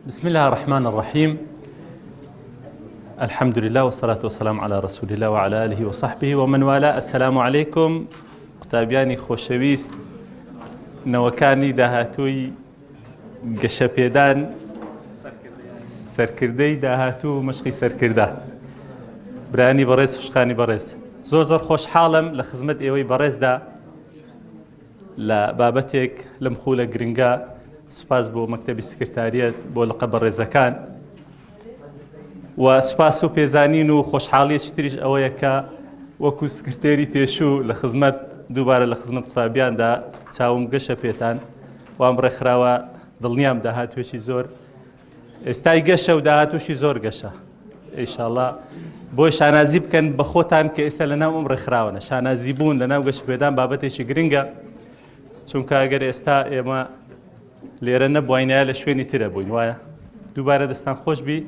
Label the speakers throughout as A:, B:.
A: بسم الله الرحمن الرحيم الحمد لله والصلاة والسلام على رسول الله وعلى آله وصحبه ومن والاه السلام عليكم قوتابیانی خۆشەویست نەوەکانی داهاتووی گەشەپێدان سەرکردەی داهاتوو مشقی سەرکردە برانی بەڕێز خوشخانی بەڕێز زۆر زۆر خۆشحاڵم لە خزمەت ئێوەی بەڕێزدا لە بابەتێک لەم خولە گرنگە سوپاس بۆ مەکتەبی سکرتاریەت بۆ لقە بەڕێزەکان و سوپاس و پێزانین و خۆشحاڵیەکی تریش ئەوەیە کە وەکو سکرتێری پێشوو لە خزمەت دووبارە لە خزمەت قوتابیاندا چاوم گەشە پێتان وام ڕێکخراوە دڵنیام داهاتوێکی زۆر ئێستای گەشە و داهاتوشی زۆر گەشە ئیشاءاللە بۆی شانازی بکەن بە خۆتان کە ئێستا لە ناو ئەم ڕێکخراوەە شانازی بوون لە ناو گەشتپێدان بابەتێکی گرنگە چونکە ئەگەر ئێستا ئێمە لێرە نەبووینە لە شوێنی ترە بووین وایە دووبارە دەستان خۆش بی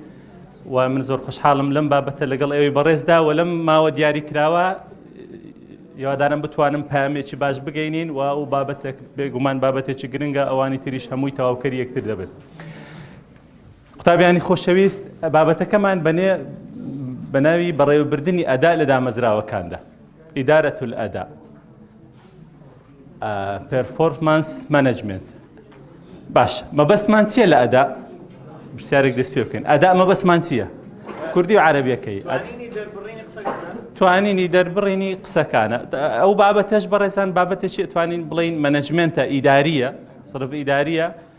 A: و من زۆر خۆشحاڵم لەم بابەتە لەگەڵ ئەوی بەڕێزدا و لەم ماوە دیاری کراوە یادانم بتوانم پامێکی باش بگەینین و ئەو بابەتێک بێگومان بابەتێکی گرنگە ئەوانی تریش هەمووی تەواوکەری یەکتر دەبێت. قوتابیانی خۆشەویست بابەتەکەمان بەنێ بەناوی بەڕێوەبردنی ئەدا لە دامەزراوەکاندا ئیدارەت ئەدا پرفۆرمانس مەنجمنت باش مەبەستمان چییە لە ئەدا پرسیارێک دەست پێ بکەین ئەدا مەبەستمان چییە کوردی و عربیەکەی توانینی دەربڕینی قسەکانە ئەو بابەتەش بەڕێزان بابەتێکی توانین بڵین مەنجمنتە ئیداریە سرف ئیداریە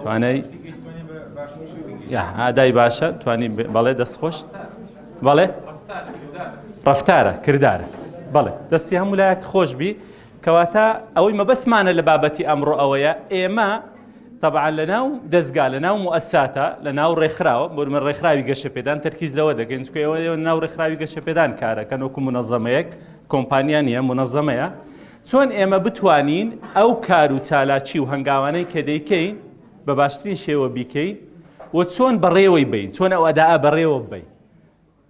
A: توانای ئادای باشە توانی بەڵێ دەست خۆش بەڵێ ڕفتارە کردارە بەڵێ دەستی هەموو لایەک خۆش بی کەواتە ئەوەی مەبەسمانە لە بابەتی ئەمڕۆ ئەوەیە ئێمە طبعا لە ناو دەستگا لە ناو موساتە لە ناو ڕێکخراوە بۆمە ڕێکخراوی گەشەپێدان تەرکیز لەوە دەگەن چکەوە ناو ڕێکخراوی گەشەپێدان کارەکەن وەکو منەظەمەیەک کۆمپانیان نیە منەظەمەیە چۆن ئێمە بتوانین ئەو کار و چالاکی و هەنگاوانەی کە دەیکەین بە باشترین شێوە بیکەین و چۆن بەڕێوەی بین چۆن ئەو ئەدا بەڕێوە بین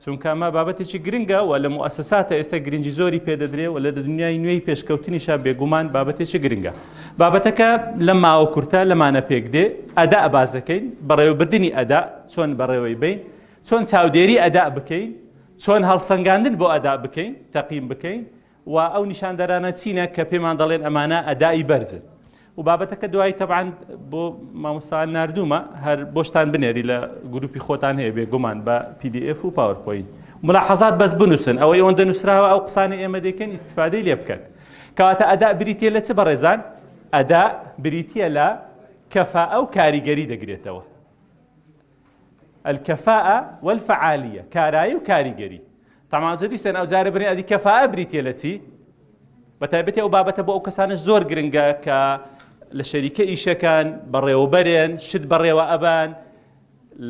A: چونکە ئەمە بابەتێکی گرنگە و لە موسساتە ئێستا گرنگی زۆری پێدەدرێ و لە دنیای نوێی پێشکەوتنیشا بێگومان بابەتێکی گرنگە بابەتەکە لە ماوە کورتە لەمانە پێک دێ ئەدا باز دەکەین بەڕێوەبردننی ئەدا چۆن بەڕێوەی بین چۆن چاودێری ئەدا بکەین چۆن هەڵسەنگاندن بۆ ئەدا بکەین تەقیم بکەین و ئەو نیشاندەرانە چینە کە پێمان دەڵێن ئەمانە ئەدائی بەرزن و بابەتەکە دوایی تەبان بۆ مامۆستان نردومە هەر بۆشتان بنێری لە گروپی خۆتان هەیە بێ گومان بە PDF و پاورپۆین ملاحظات بەس بنووسن ئەوەی ئەوەندە نووسراوە ئەو قسانی ئێمە دەکەن ئیسفادەی لێ بکەن کەواتە ئەدا بریتە لە چ بەڕێزان ئەدا بریتە لە کەفا ئەو کاریگەری دەگرێتەوە الکفاءە والفعالیە کارایی و کاریگەری تەمان جدی سێن ئەو جارە برێن ئەدی کەفاءە بریتە لە چی بە تایبەتی ئەو بابەتە بۆ ئەو کەسانش زۆر گرنگە کە لە شەریکە ئیشەکان بەڕێوەبەرێن شت بەڕێوە ئەبان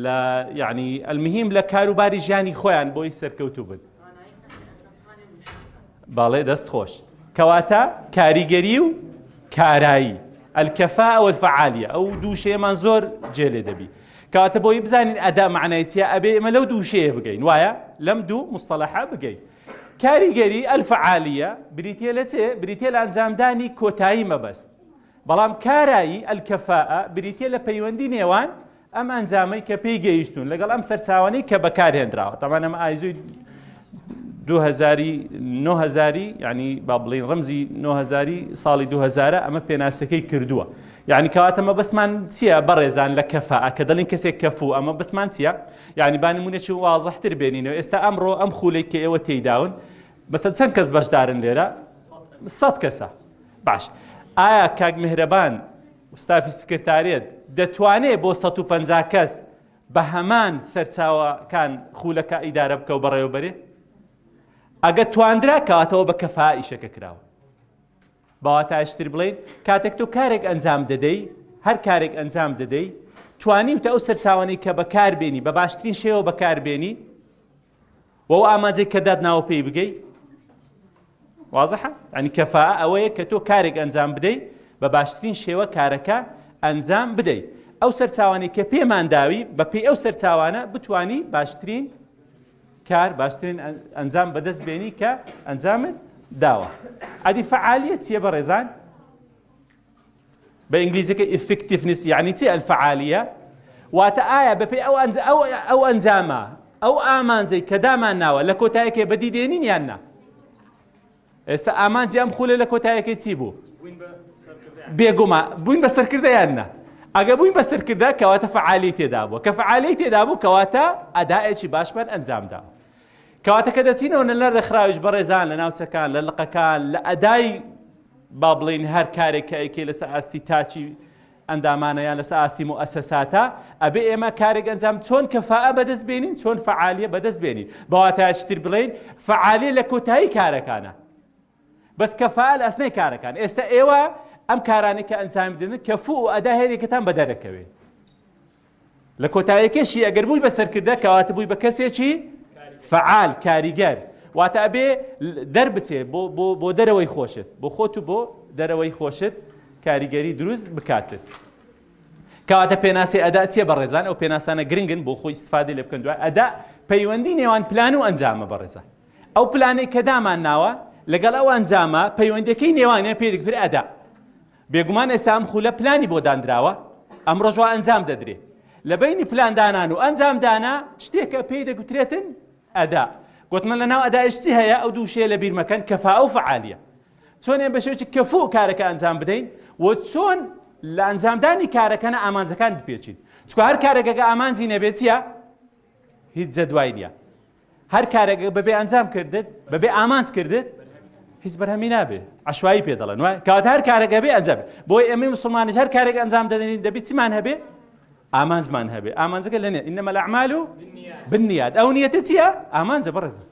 A: لە یعنی ئەلمهیم لە کاروباری ژیانی خۆیان بۆی سەرکەوتوو بن بەڵێ دەست خۆش کەواتە کاریگەری و کارایی ئەلکەفا ئەوە فعالیە ئەو دووشەیەمان زۆر جێ لێ دەبی کاتە بۆی بزانین ئەدا معنایچە ئەبێ ئمە لەو دووشەیە بگەین وایە لەم دوو مستەلەحە بگەین کاریگەری ئەلفعالیە بریتە لە چێ بریتە لە ئەنجامدانی کۆتایی مەبەست بەڵام کارایی ئەلکەفاء بریتە لە پەیوەندی نێوان ئەم ئەنجامەی کە پێی گەیشتون لەگەڵ ئەم سەرچاوانەی کە بەکارهێنراوە تاوان ئەمە ئایزوی 2009 ینی با بڵین ڕمزی 9هزاری ساڵی 2000 ئەمە پێناسەکەی کردووە یعنی کەواتەمە بەسمان چییە بەڕێزان لە کەفە کە دەڵین کەسێک کەفو ئەمە بەسمان چییە یعنی بانمونێکی وازەحتر بێنینەوە ئێستا ئەمڕۆ ئەم خولێک کە ئێوە تێداون بەسە چەند کەس بەشدارن لێرە سە کەسە باش ئایا کاک مهرەبان ستافی سکرتاریەت دەتوانێ بۆ سەد و پەنجا کەس بە هەمان سەرچاوەکان خولەکە ئیدارە بکە و بەڕێوەبەرێ ئەگە تواندرا کاتەوە بە کەفا ئیشەکە کراوە باواتاشتر بڵین کاتێک تۆ کارێک ئەنجام دەدەی هەر کارێک ئەنجام دەدەی توانی وتە ئەو سەرچاوانەی کە بەکاربێنی بە باشترین شێوە بەکاربێنی و ئەو ئاماجەی کە داتناوە پێی بگەی وازحە ئەنی کەفا ئەوەیە کە تۆ کارێک ئەنجام بدەی بە باشترین شێوە کارەکە ئەنجام بدەیت ئەو سەرچاوانی کە پێمان داوی بە پێی ئەو سەرچاوانە بتانی باشترین کار باشترین ئەنجام بەدەست بێنی کە ئەنجامت داوە ئەدی فعالیت چیە بە ڕێزان بە ئینگلیزیەکە ئیفکتیفنس یعنی چی ئەلفعالیە واتە ئایا بەپێی ئەو ئەنج ئەو ئەو ئەنجامە ئەو ئامانجەی کە دامان ناوە لە کۆتایەکێ بەدی دێنین یان نا ئێستا ئامانجی ئەم خولە لە کۆتایەکەی چی بوو بێگوما بووین بە سەرکردە یان نا ئەگە بووین بە سەرکردە کەواتە فعالی تێدا بووە کە فعالی تێدا بوو کەواتە ئەداەکی باشمان ئەنجامدا کەواتە کە دەچینەوە نە لە ڕێکخراویش بەڕێزان لە ناوچەکان لە لقەکان لە ئەدای با بڵین هەر کارێک کە ئەیکێ لەسەر ئاستی تاچی ئەندامانە یان لەسەر ئاستی موئەسەساتە ئەبێ ئێمە کارێک ئەنجام چۆن کەفاءە بەدەست بێنین چۆن فعالیە بەدەست بێنین بەواتایشتر بڵین فعالیە لە کۆتایی کارەکانە بەس کە فەال ئەسنەی کارەکان ئێستا ئێوە ئەم کارانی کە ئەنجام بدن کە فو و ئەدا هێرێکتان بە دەرەکەوێ لە کۆتایەکەشی ئەگەر بووی بە سەرکردە کەواتە بووی بە کەسێکی فعال کاریگەر واتە ئەبێ دەربچێ بۆ دەرەوەی خۆشت بۆ خۆت و بۆ دەرەوەی خۆشت کاریگەری دروست بکاتت کەواتە پێناسی ئەدا چیە بەڕێزان ئەو پێناسانە گرنگن بۆ خۆی استفادی لە بکەن دوای ئەدا پەیوەندی نێوان پلان و ئەنجامە بەڕێزان ئەو پلانەی کە دامان ناوە لەگەڵ ئەو ئەنجامە پەیوەندەکەی نێوانیان پێ دکتر ئەدا بێگومان ئێستا ئەم خولە پلانی بۆ دانراوە ئەم ڕۆژوە ئەنجام دەدرێ لە بینی پلاندانان و ئەنجامدانا شتێکە پێی دەگوترێتن ئەدا گوتمە لە ناو ئەداشتی هەیە ئەو دووشێ لە بیرمەکەن کەفا و فعالیە چۆن ئێ بەشێکی کەفو کارەکە ئەنجام بدەین و چۆن لە ئەنجامدانی کارەکەە ئامانجەکان بپێچین چکە هەر کارەکەگە ئامانجی نەبێتە هیچ جەدوای نیە هەر کارێک بەبێ ئەنجام کردت بەبێ ئامانج کردت هیچ بەرهەمی نابێ عشوایی پێ دەڵێن وای کات هەر کارێکە بێ ئەنجام بۆی ئەمەی مسلمانش هەر کارێک ئەنجام دەدەین دەبی چیمان هەبێ ئامانجمان هەبێ ئامانجەکە لەنێ ئینەمە لە ئەعمال و بنیاد ئەو نیەتە چییە ئامانجە بەڕێزە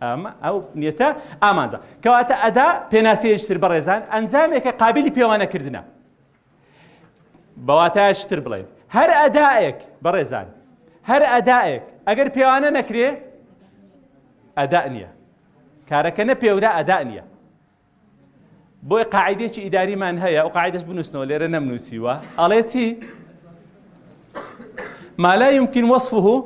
A: ئەمە ئەو نیەتە ئامانجە کەواتە ئەدا پێناسەیەشتر بەڕێزان ئەنجامێکە قابلی پێوانەکردە بە واتایەکی تر بڵێین هەر ئەدائێک بەڕێزان هەر ئەدائێک ئەگەر پێوانە نەکرێ ئەدا نییە کارەکە نە پێورا ئەدا نییە بۆی قاعدێکی ئیداریمان هەیە و قاعدەش بنووسنەوە لێرە نەمنووسیوە ئەڵێ چی ما لا يمكن وصفه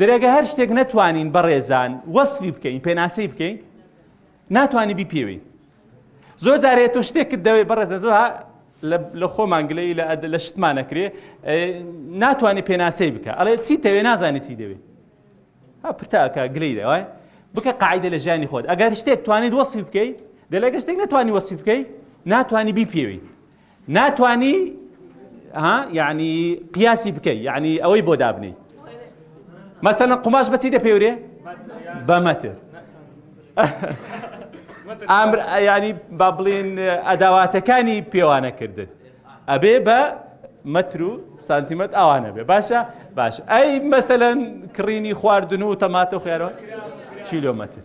A: درێگە هەر شتێک نەتوانین بەڕێزان وەسفی بکەین پێناسەی بکەین ناتوانانی بیپێوین زۆر جارێ تۆ شتێکت دەوێت بەڕێزە زۆر لە خۆمان گلەی لە شتمان نەکرێ ناتوانانی پێناسەی بکە ئەڵێ چی تەوێ نازانی چی دەوێت پرتاکە گلەی دەوای بکە قاعدە لە ژیانی خۆت ئەگەر شتێک توانیت وەسفی بکەیت دەلەگە شتێک نتوانانی وەسیف بکەیت ناتوانانی بیپێوی ناتوانی ها یعنی قیاسی بکەی یعنی ئەوەی بۆ دابنی مەسەنە قوماش بەچی دەپێورێ بەمەتر ئامر ینی با بڵێن ئەداواتەکانی پێوانەکردن ئەبێ بە مەتر و سانتیمەت ئاوانە بێ باشە باش ئەی مەسەەن کڕینی خواردن و تەماتە خوێرەوە چیلۆمەتر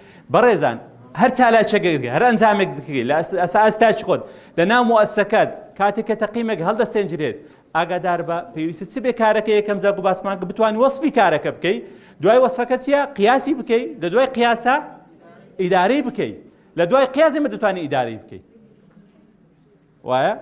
A: بەڕێزان هەر چالاکیەکەگە هەر ئەنجامێک دکری لە ئەساستاچ خۆت لە ناو مؤسسەکەت کاتێک کە تەقیمێک هەڵدەستێنجرێت ئاگادار بە پێویستە چ بێ کارەکە یەکەم جا گو باسمان کە بتوان وەصفی کارەکە بکەی دوای وەصفەکە چیە قیاسی بکەی لە دوای قیاسە ئیدارەی بکەی لە دوای قیازی مە دەتوانانی ئیدارەی بکەیت وایە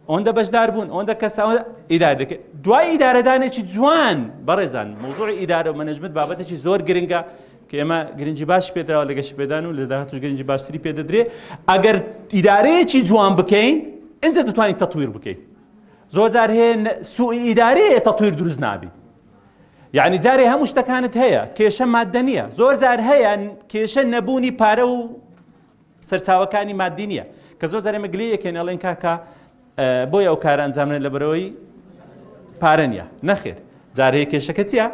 A: ئەوەندە بەشدار بوون ئەوەندە کەسەوە ئیدار دەکرد دوای ئیدارەدانێکی جوان بەڕێزان موزوعی ئیدارە و مەنەجمت بابەتێکی زۆر گرنگە کە ئێمە گرنگی باش پێدراوە لە گەشت پێدان و لە داهاتوش گرنگی باشتری پێ دەدرێ ئەگەر ئیدارەیەکی جوان بکەین ئەجا دەتوانین تەطویر بکەین زۆر جار هەیە سوء ئیدارەیە تەطویر دروست نابیت یعنی جارێ هەموو شتەکانت هەیە کێشە مادە نییە زۆر جار هەیە کێشە نەبوونی پارە و سەرچاوەکانی مادی نییە کە زۆر دەێمە گلی یەکێن ئەڵێن کاکە بۆی ئەو کارە ئەنجامێن لە بەرەوەی پارە نیە نەخێر جارەیە کێشەکە چیە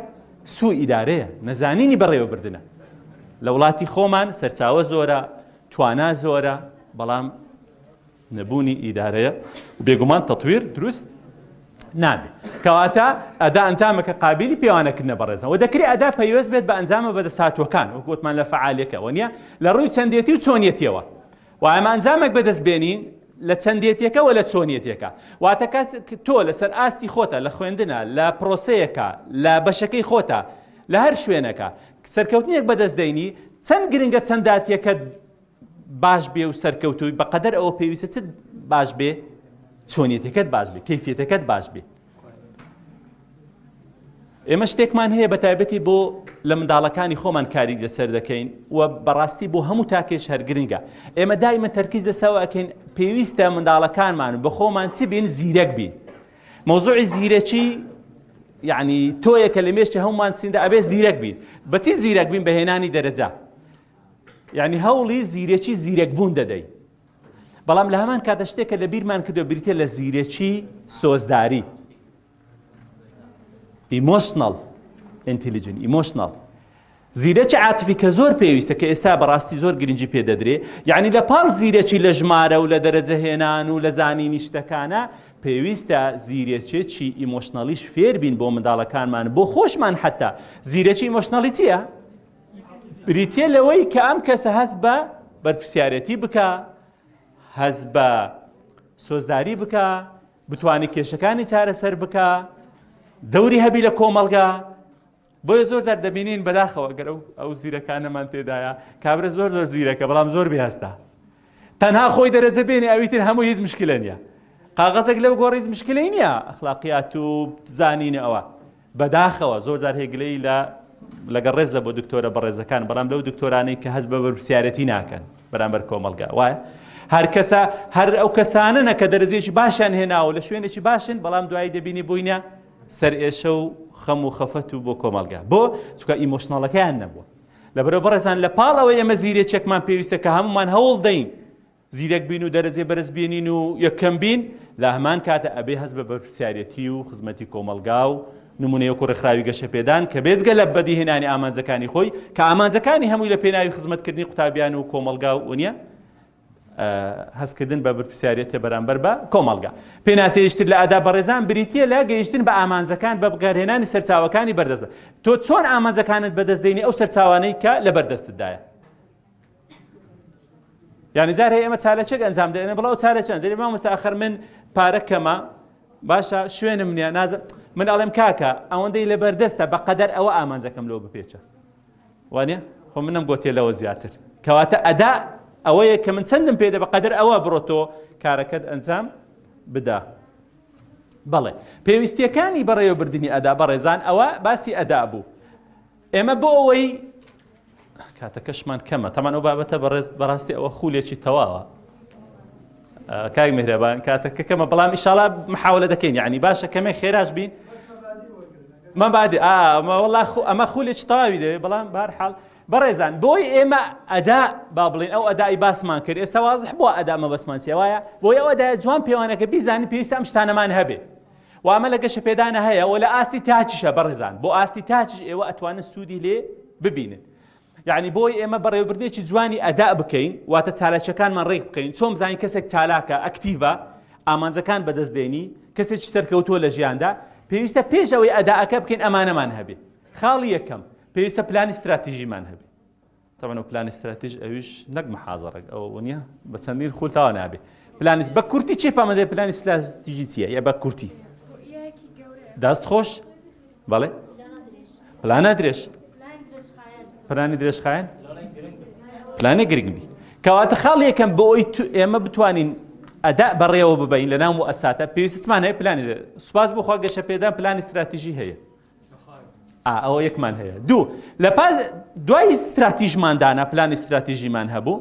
A: سوو ئیدارەیە نەزانینی بەڕێوەبردنە لە وڵاتی خۆمان سەرچاوە زۆرە توانا زۆرە بەڵام نەبوونی ئیدارەیە و بێگومان تەتویر دروست نابێ کەواتە ئەدا ئەنجامە کە قابلی پێوانەکردە بەڕێزەوە دەکرێت ئەدا پەیوەست بێت بە ئەنجامە بەدەساتوەکان وەکوتمان لە فعالەکەەوە نیە لە ڕووی چەندێتی و چۆنیەتەوە وایمە ئەنجامێک بەدەست بێنین لە چەندێتەکە و لە چۆنیەتەکە واتە کات تۆ لەسەر ئاستی خۆتە لە خوێندنە لە پرۆسەیەەکە لە بەشەکەی خۆتە لە هەر شوێنەکە سەرکەوتنێک بەدەست دەینی چەند گرنگە چەنداتیەکە باش بێ و سەرکەوتووی بەقەدەر ئەوە پێویستە چ باش بێ چۆنیەتەکەت باش بێ کەفیەتەکەت باش بێ ئێمە شتێکمان هەیە بە تایبەتی بۆ لە منداڵەکانی خۆمان کاری لەسەر دەکەین و بەڕاستی بۆ هەموو تاکێش هەرگرنگە ئێمە دایمە تەرکیز لەسەوە ئەکەین پێویستە منداڵەکانمان بە خۆمان چ بین زیرەک بین مۆزوعی زیرەکی یعنی تۆیەکە لە مێشتی هەمومان سیندا ئەبێ زیرەک بین بەچی زیرەک بین بەهێنانی دەرەجە یعنی هەوڵی زیرەکی زیرەک بوون دەدەی بەڵام لە هەمان کاتە شتێکە لە بیرمان کردو بریتە لە زیرەکی سۆزداری ئیمۆشنڵ ئینتلیجن ئیمۆشنڵ زیرەکی عاتفی کە زۆر پێویستە کە ئێستا بەڕاستی زۆر گرنگجی پێ دەدرێ یعنی لە پاڵ زیرەکی لە ژمارە و لە دەرەجە هێنان و لە زانینی شتەکانە پێویستە زیرەکێکی ئیمۆشنەڵیش فێربین بۆ منداڵەکانمان بۆ خۆشمان حتا زیرەکی ئیمۆشنەڵیتیە بریتییە لەوەی کە ئەم کەسە هەست بە بەرپرسیارەتی بکا هەست بە سۆزداری بکا بتوانێت کێشەکانی چارەسەر بکا دەوری هەبی لە کۆمەڵگا بۆیە زۆر زار دەبینین بەداخەوە گەر ئەو ئەو زیرەکانەمان تێدایە کابرە زۆر زۆر زیرەکە بەڵام زۆر بێهستا تەنها خۆی دەرەجە بێنێ ئەویتر هەموو هیچ مشکلە نییە قاغەزێک لەو گۆڕیز مشکلی نییە ئەخلاقیات و زانینە ئەوە بەداخەوە زۆر جار هەیە گلەیی لە لەگەڵ ڕێز لە بۆ دکتۆرە بەڕێزەکان بەڵام لەو دکتۆرانەی کە هەست بە بەرپسیارەتی ناکەن بەرامبەر کۆمەلگا وایە هەر کەسە هەر ئەو کەسانەنە کە دەرزێکی باشیان هێناوە لە شوێنێکی باشن بەڵام دوایی دەبینی بووینە سەر ئێشە و خەم و خەفەت و بۆ کۆمەلگا بۆ چکە ئیمۆشناڵەکەیان نەبووە لە بەرەو بەڕێزان لە پاڵ ئەوە ئێمە زیرێکێکمان پێویستە کە هەمومان هەوڵ دەین زیرەک بین و دەرەجەی بەرز بێنین و یەکەم بین، لە هەمان کاتە ئەبێ هەست بە بەرپرسیارێتی و خزمەتی کۆمەڵگا و نموونەی وەکوو ڕێکخراوی گەشەپێدان کە بێجگە لە بەدیهێنانی ئامانجەکانی خۆی کە ئامانجەکانی هەمووی لە پێناوی خزمەتکردنی قوتابیان و کۆمەڵگا و نیە، هەستکردن بە بەرپرسیارێتە بەرامبەر بە کۆمەڵگا. پێناسەیەکی تر لە ئاداب بەڕێزان بریتییە لە گەیشتن بە ئامانجەکان بە بەکارهێنانی سەرچاوەکانی بەردەست. تۆ چۆن ئامانجەکانت بەدەست دێنی ئەو سەرچاوانەی کە لەبەردەستتدایە؟ یعنی جار هەیە ئێمە چالەچێک ئەنجام دەێنە بڵاو چالەچەند دەێ مامۆستا ئەخر من پارە کەمە باشە شوێنم نییە نازم من ئەڵێم کاکە ئەوەندەی لە بەردەستە بە قەدەر ئەوە ئامانجەکەم لەوە بپێچە وانە خۆ منم گۆتێ لەوە زیاتر کەواتە ئەدا ئەوەیە کە من چەندم پێدە بە قەدەر ئەوە بڕۆتۆ کارەکەت ئەنجام بدا بەڵێ پێویستیەکانی بەڕێوەبردننی ئەدا بەڕێزان ئەوە باسی ئەدا بوو ئێمە بۆ ئەوەی کاتەکەشمان کەمە تەمان ئەو بابەتە بەڕێز بەڕاستی ئەوە خولێکی تەواوە کاک مهرەبان کاتەکە کەمە بەڵام ئیشاڵا محاولە دەکەین یعنی باشە کەمێک خێراش بین مە بعد ئەمە وڵا ئەمە خولێک تاوی دەوێت بەڵام بار حاڵ بەڕێزان بۆی ئێمە ئەدا با بڵێن ئەو ئەدای باسمان کرد ئێستا وازح بووە ئەدامە بەسمانسیە وایە بۆی ئەو ئەدای جوان پێوانەکە بیزانانی پێویستە ئەم شتانەمان هەبێت و ئەمە لە گەشەپێدانە هەیە و لە ئاستی تاچیشە بەڕێزان بۆ ئاستی تاچش ئێوە ئەتوانن سوودی لێ ببینن یعنی بۆی ئێمە بەڕێوبردێکی جوانی ئەدا بکەین واتە چالاکیەکانمان ڕێک بکەین چۆن بزانین کەسێک چالاکە ئەکتیڤە ئامانجەکان بەدەست دێنی کەسێکی سەرکەوتووە لە ژیاندا پێویستە پێش ئەوەی ئەداەکە بکەین ئەمانەمان هەبێ خاڵی یەکەم پێویستە پلانی استراتیژیمان هەبێ تەبعەن ئەو پلانی ستراتیژ ئەویش نەک محازەڕەک ئەوە ونیە بە چەندین خول تاوا نابێ پلانی بە کورتی چێ پامەدە پلانی ستراتیژی چیە یا بە کورتی دەست خۆش بەڵێ پلانە درێژ پلانی درێژخایەن پلانە گرنگ بی کەواتە خاڵ یەکەم بۆ ئەوی ئێمە بتوانین ئەدا بەڕێوە ببین لە ناو ئەساتە پێویستمان هەیە پلانی سوپاس بخوا گەشە پێدان پلانی ستراتیژی هەیە ئا ئەوە یەکمان هەیە دوو لە پاس دوای ستراتیژمان دانا پلانی ستراتیژیمان هەبوو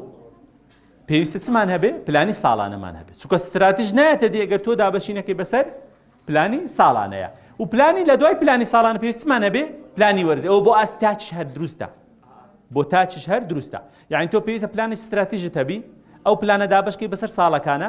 A: پێویستە چمان هەبێ پلانی ساڵانەمان هەبێت چکە ستراتیژ نایەتە دێگەر تۆ دابەشینەکەی بەسەر پلانی ساڵانەیە و پلانی لە دوای پلانی ساڵان پێویستمان هەبێ پلانی وەرزی ئەو بۆ ئاست تاچ هەر دروستە بۆ تاچش هەر دروستە یعنی تۆ پێویستە پلانی ستراتیژت هەبی ئەو پلانە دابشکی بەسەر ساڵەکانە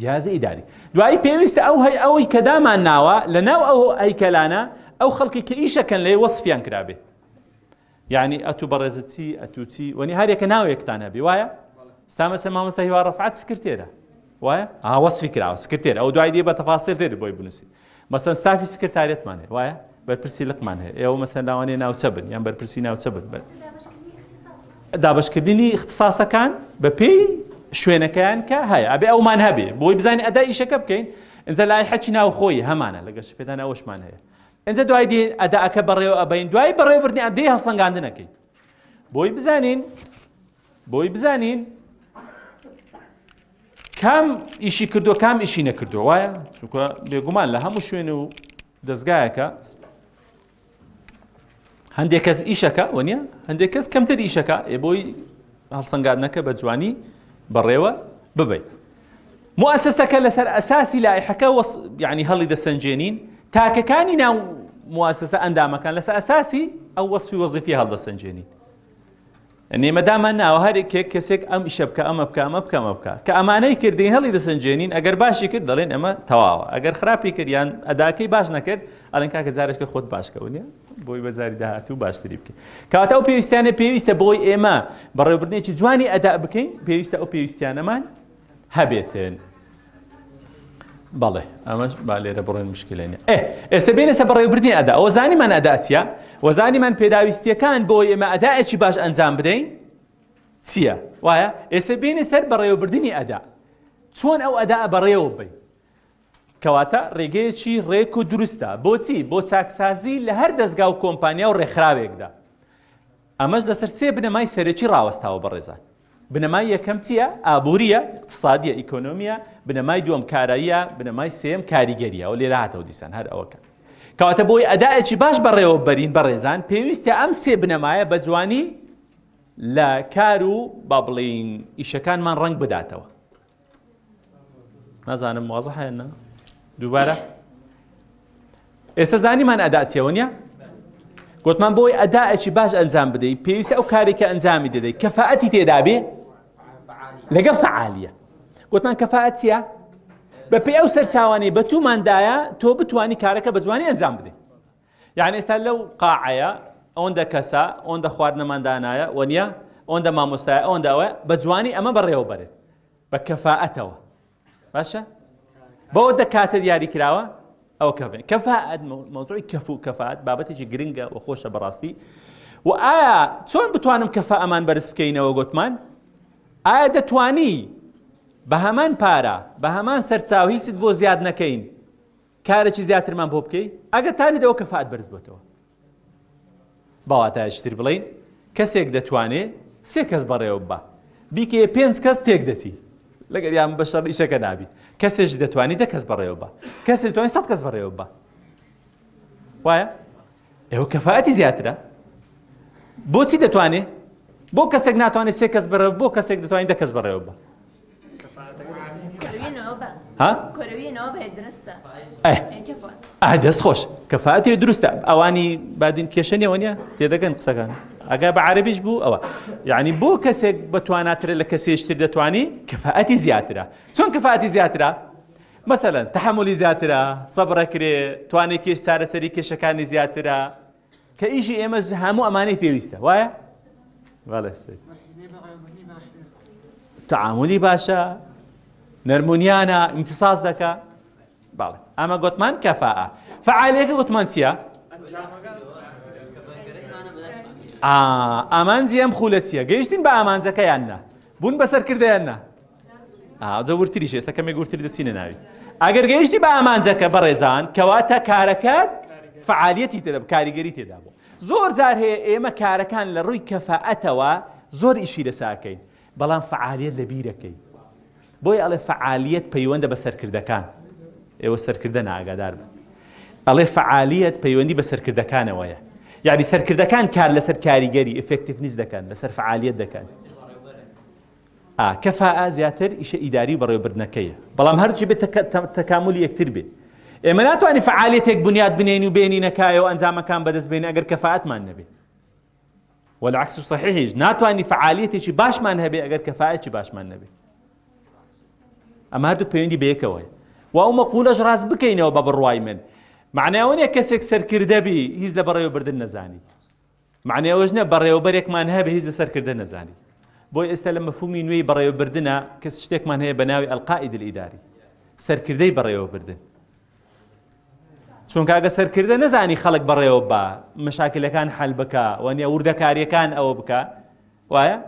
A: جیازی ئیداری دوایی پێویستە ئەو هەی ئەوەی کە دامان ناوە لە ناو ئەو ئەیکەلانە ئەو خەڵکی کە ئیشەکەن لێ وەسفیان کرابێ یعنی ئەتو بەڕێزتی ئەتوچی وەنی هەرێکە ناوێکتان هەبی وایە ستامەسە مامەسە هیوا ڕفعات سکرتێرە وایە ئاوەسفی کراوە سکرتێر ئەو دوای دێ بە تەفاسێر دێت بۆی بنووسیت مەسەن ستافی سکرتارێتمان هەیە وایە بەرپرسی لقمان هەیە ئێوە مەسەن لاوانێ ناوچە بن یان بەرپرسی ناوچە بن بن دابشکردنی اختصاسەکان بە پێی شوێنەکەیان کە هەیە ئەبێ ئەومان هەبێ بۆی بزانانی ئەدا ئیشەکە بکەین ئەجا لای حەچی ناوخۆی هەمانە لەگەش پێدان ئەوشمان هەیە ئەجا دوای دێن ئەداکە بەڕێوە ئەبین دوای بەڕێوەبردنی ئەدەی هەڵسەنگاندنەکەی بۆی بزانین بۆی بزانین کام ئیشی کردو کام ئیشی نەکردو وایە چونکە بێگومان لە هەموو شوێن و دەستگایەکە هەندێک کەس ئیشەکە و نیە هەندێک کەس کەمتر ئیشەکە ئێ بۆی هەڵسەنگاتنەکە بە جوانی بەڕێوە ببیت موسسەکە لەسەر ئەساسی لایحەکە یعنی هەڵی دەسەنجێنین تاکەکانی ناو موسسە ئەندامەکان لەسەر ئەساسی ئەو وەصفی وەزیفی هەڵدەسەنجێنین نێمە دامان ناوە هەر کێک کەسێک ئەم ئیشە بکە ئەمە بکە ئەمە بکە ئەمە بکە کە ئەمانەی کردین هەڵی دەسەنجێنین ئەگەر باشی کرد دەڵێن ئەمە تەواوە ئەگەر خراپی کرد یان ئەداکەی باش نەکرد ئەلەن کاکە جارێکە خۆت باشکەونێ بۆی بەجاری داهات و باشتری بکە کاتە ئەو پێویستیانە پێویستە بۆی ئێمە بەڕێوبردنێکی جوانی ئەدا بکەین پێویستە ئەو پێویستیانەمان هەبێتن بەڵێ ئەمەش با لێرە بڕێن مشکلێن ئێ ئێستا بێنێسە بەڕێوبردنی ئەدا ئەوە زانیمان ئەدا چیە وەزانیمان پێداویستیەکان بۆ ئێمە ئەداەکی باش ئەنجام بدەین چییە وایە ئێستا بێنێ سەر بەڕێوەبردننی ئەدا چۆن ئەو ئەدا بەڕێوە بین کەواتە ڕێگەیەکی ڕێک و دروستە بۆچی بۆ چاکسازی لە هەر دەستگا و کۆمپانیا و ڕێکخراوێکدا ئەمەش لەسەر سێ بنەمای سەرەکی ڕاوەستاوە بەڕێزان بنەمای یەکەم چییە؟ ئابوورییە، ئیقتسادییە، ئیکۆنۆمییە، بنەمای دووەم کاراییە، بنەمای سێیەم کاریگەرییە، ئەوە لێرە هاتەوە دیسان هەر ئەوە کە کەواتە بۆی ئەدائێکی باش بەڕێوە بەرین بەڕێزان پێویستە ئەم سێ بنەمایە بە جوانی لە کار و با بڵێین ئیشەکانمان ڕەنگ بداتەوە. نازانم وازە هەیەە دووبارە ئێستا زانیمان ئەدا چێوە نیە گوتمان بۆی ئەداەکی باش ئەنجام بدەیت پێویستە ئەو کارێکە ئەنجامی دەدەیت کەفاەتی تێدابێ لەگە فعالیە گوتمان کەفاەت چیە بەپی ئەو سەرچوانەی بە توماندایە تۆ بتانی کارەکە بە جوانی ئەنجام بدەیت یەعنی ئێستا لەو قاعەیە ئەوەندە کەسە ئەوەندە خواردنەمان دانایە وە نیە ئەوەندە مامۆستای ئەوەندە ئەوە بە جوانی ئەمە بەڕێوە بەرێت بە کەفاەتەوە باشە بەوە دە کاتە دیاری کراوە ئەو کە کەفاەت مەوزوعی کەف و کەفاات بابەتێکی گرنگە و خۆشە بەڕاستی و ئایا چۆن بتوانم کەفا ئەمان بەرز بکەینەوە گوتمان ئایا دەتانی بە هەمان پارە بە هەمان سەرچاو هیچت بۆ زیاد نەکەین کارێکی زیاترمان بۆ بکەی ئەگەر تانێت ئەوە کەفائەت بەرز بۆتەوە بەواتایەکی تر بڵێین کەسێک دەتوانێ سێ کەس بەڕێوە بە بیکێ پێنج کەس تێک دەچی لەگەر یان بە شەڕ ئیشەکە نابی کەسێک دەتوانانی دە کەس بەڕێوە بە کەسێک توانانی سەد کەس بەڕێوە بە وایە ئێوە کەفاەتی زیاترە بۆچی دەتوانێت بۆ کەسێک ناتوانێت سێ کەس بەرەو بۆ کەسێک دەتوانین دە کەس بەڕێوە بە دەست خۆش کەفاەتی دروستە ئەوانی بادین کێشە نێوە نیە تێدەگەن قسەکان ئەگا بە عربیش بوو ئەوە یعنی بۆ کەسێک بەتواناترە لە کەسێشتر دەتوانی کەفاەتی زیاترە چۆن کەفاەتی زیاترە مەسەلەن تەحەمولی زیاترە، سەبر ئەکرێ، توانای کێش چارەسەری کێشەکانی زیاترە، کە ئیشی ئێمەش هەموو ئەمانەی پێویستە وایە؟ بەڵێ سەید تعاملی باشە نەرمونیانە امتصاص دەکە بەڵێ ئەمە گوتمان کەفاء فعالیەکە گوتمان چییە؟ ئامانجی ئەم خولە چییە؟ گەیشتین بە ئامانجەکەیان نا بوون بەسەر کردیان نا ئاجە ورتریش ئێستا کەمێک ورتر دەچینە ناوی ئەگەر گەیشتی بە ئامانجەکە بەڕێزان کەواتە کارەکەت فعالیەتی تێدا کاریگەری تێدا بوو زۆر جار هەیە ئێمە کارەکان لە ڕووی کەفەئەتەوە زۆر ئیشی لەساکەین بەڵام فعالیت لە بیرەکەی بۆی ئەڵێ فعالیت پەیوەندە بە سەرکردەکان ئێوە سەرکردە ناگادار بن ئەڵێ فعالیت پەیوەندی بە سەرکردەکانەوەیە یعنی سەرکردەکان کار لەسەر کاریگەری ئفکتیفنیز دەکەن لەسەر فعالیت دەکەن ئا، کفاءە، زیاتر ئیشە ئیداری و بەڕێوەبردنەکەیە، بەڵام هەردووکی بێت تەکامولی یەکتر بێ. ئێمە ناتوانین فەعالیەتێک بنیات بنێین و بێنینە کایە و ئەنجامەکان بەدەست بێنین ئەگەر کفاءەتمان نەبێ. والعکس صحیحیش ناتوانین فەعالیەتێکی باشمان هەبێ ئەگەر کفاءەکی باشمان نەبێ. ئەمە هەردوو پەیوەندی بەیەکەوەی. و ئەو مەقولەش ڕاست بکەینەوە بە بڕوای من. معنای ئەوە نیە کەسێک سەرکردە بی هیچ لە بەڕێوەبردن نەزانی. مەعنای ئەوەش نیە بەڕێوەبەرێکمان هەیە بە هیچ لەسەر کردە نەزانی بۆی ئێستا لە مەفهومی نوێی بەڕێوەبردنا کەس شتێکمان هەیە بە ناوی ئەلقائید الاداری سەرکردەی بەڕێوەبردن چونکە ئەگە سەرکردە نەزانی خەڵک بەڕێوە بە مەشاکلەکان حل بکە وەنیە وردەکاریەکان ئەوە بکە وایە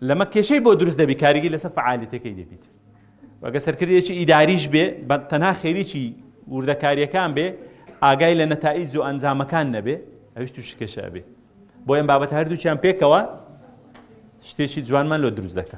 A: لەمە کێشەی بۆ دروست دەبی کاریگەی لەسەر فعالیتەکەی دەبیت وەگە سەرکردێکی ئیداریش بێ بە تەنها خێریی وردەکاریەکان بێ ئاگای لە نەتائیز و ئەنجامەکان نەبێ ئەویش تو شکێشە بێ بۆ ئەم بابەت هەردووچیان پێکەوە شتێکی جوانمان لۆ دروست دەکە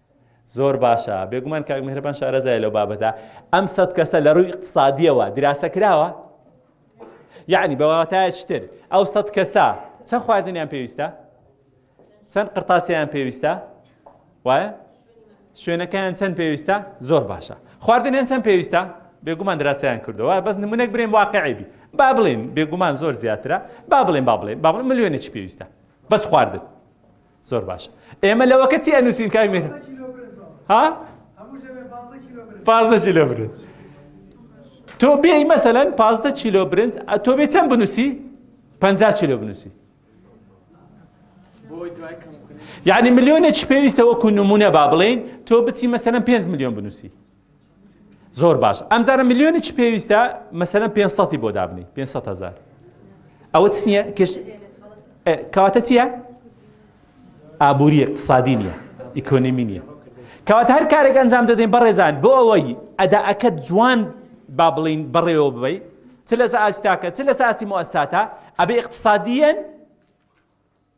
A: زۆر باشە بێگومان کاک میهرەبان شارەزایە لەو بابەتە ئەم سەد کەسە لە ڕووی اقتصادیەوە دراسە کراوە یعنی بەواتایە چتر ئەو سەد کەسە چەند خواردنیان پێویستە چەند قرتاسیان پێویستە وایە شوێنەکەیان چەند پێویستە زۆر باشە خواردنیان چەند پێویستە بێگومان دراسیان کردەوە بەس نمونەک برێن واقعیبی با بڵێن بێگومان زۆر زیاترە با بڵێن با بڵێن با بڵێن ملیۆنێکی پێویستە بەس خواردن زۆر باش ئێمە لەوەکە چی ئەنووسین کاک مێ ها پازدە کیلۆ برنج تۆ بێی مەسەلەن پازدە کیلۆ برنج تۆ بێ چەند بنووسی پ کیلۆ بنووسی یعنی ملیۆنێک پێویستە وەکو نمونە با بڵین تۆ بچی مەسەرم 5 میلیۆن بنووسی زۆر باش ئەمزانە ملیۆنی چ پێویستە مەسەرەن پێ سەی بۆ دابنی پێ هزار ئەوە چ نییە کش کەواتە چییە؟ ئابووری اقتصادی نییە ئیکۆنمی نییە کەوات هەر کارێک ئەنجام دەدەین بەڕێزان بۆ ئەوەی ئەداەکە جوان با بڵین بەڕێوە ببی چ لەس ئاستاکە چ لەس ئاسی مۆساتە ئەبێ اقتصادیەن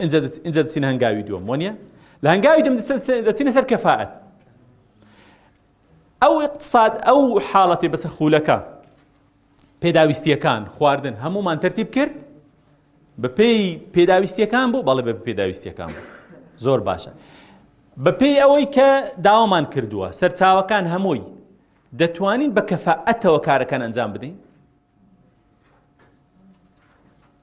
A: ئینجا دەچینە هەنگاوی دووەم وەنیە لە هەنگاوی دوم دەچینە سەر کەفاعەت ئەو اقتصاد ئەو حاڵەتی بەسە خولەکە پێداویستیەکان خواردن هەمومان تەرتیب کرد بە پێی پێداویستیەکان بوو بەڵێ بە پێداویستیەکان بوو زۆر باشە بە پێی ئەوەی کە داوامان کردووە سەرچاوەکان هەمووی دەتوانین بە کەفاعەتەوە کارەکان ئەنجام بدەین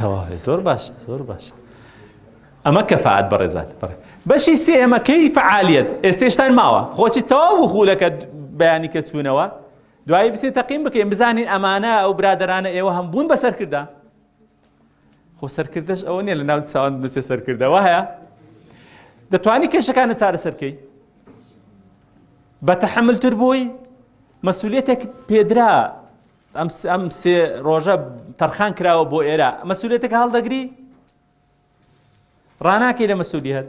A: تەواوە زۆر باشە زۆر باشە ئەمە کەفاعەت بەڕێزان بڕێ بەشی سێهمەکەی فعالیت ئێستێشتان ماوە خۆچی تەواو و خولەکە بەیانی کە چوونەوە دوایی بسێ تەقیم بکەین بزانین ئەمانە ئەو برادرانە ئێوە هەم بوون بەسەرکردە خۆ سەرکردەش ئەوە نیە لە ناو چاوان بنووسێ سەرکردە وایە دەتوانی کێشەکانە چارەسەرکەی بە تەحملتر بووی مەسوولێتێک پێدرا ئەم سێ ڕۆژە تەرخان کراوە بۆ ئێرە مەسوولێتەکە هەڵدەگری ڕاناکەی لە مەسوودی هەت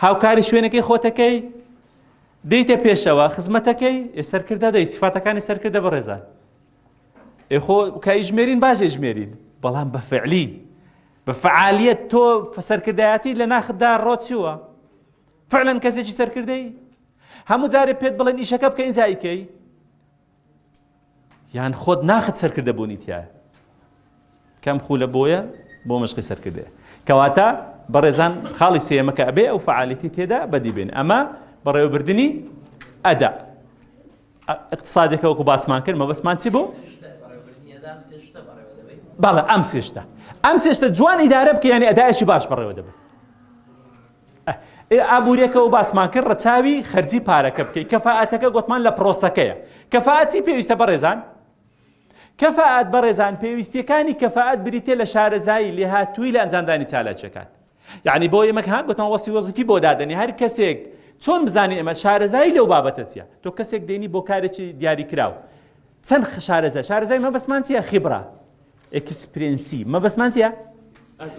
A: هاوکاری شوێنەکەی خۆتەکەی دیتە پێشەوە خزمەتەکەی سەرکردە دەی سفاتەکانی سەرکردە بەڕێزان خۆ کایژمێرین باژێ ژمێرین بەڵام بە فعلی بە فعالیت تۆ سەرکردایەتی لە ناخدا ڕۆچووە فعلەن کەسێکی سەرکردەی هەموو جارێ پێت بڵێن ئیشەکە بکە ئینجایکەی یان خۆت ناخت سەرکردە بوونی تایە کەم خولە بۆیە بۆ مشقی سەرکردەیە کەواتە بەڕێزان خاڵی سێمەکە ئەبێ ئەو فعالیتی تێدا بەدیبێن ئەمە بەڕێوەبردننی ئەدا اقتصادێکە وەکو باسمان کرد مەبەسمان چی بوو باڵە ئەم سێشتە ئەم سێشتە جوان ئیدارە بکە ینی ئەدایشی باش بەڕێوە دەبێت ئابوریەکەوە باسمان کرد ڕەچاوی خەرجی پارەکە بکەیت کەفاعەتەکە گوتمان لە پرۆسەکەیە کەفاعەتی پێویستە بەڕێزان کەفاعەت بەڕێزان پێویستیەکانی کەفاعەت بریتێ لە شارەزایی لێهاتووی لە ئەنجامدانی چالاکیەکان یعنی بۆ ئێمە هاک گوتمان وەسی وەزیفی بۆ دادەنی هەر کەسێک چۆن بزانین ئێمە شارەزایی لەو بابەتە چیە تۆ کەسێک دێنی بۆ کارێکی دیاری کراوە چەند شارەزای شارەزای مەبەسمان چیە خیبرا ئێکسپرێنسی مەبەستمان چیە؟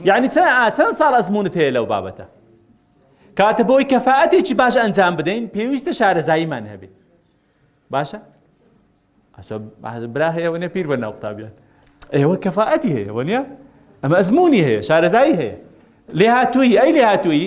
A: یعنی چەند ساڵ ئەزمونت هەیە لەو بابەتە کاتە بۆی کەفاەتێکی باش ئەنجام بدەین پێویستە شارەزاییمان هەبێت باشە؟ برا هەیە وەنێ پیر بە ناو قوتابیان ئێوە کەفاەتی هەیە وەنیە؟ ئەمە ئەزمموی هەیە شارەزایی هەیە لێ هاتووی ئەی لێ هاتووی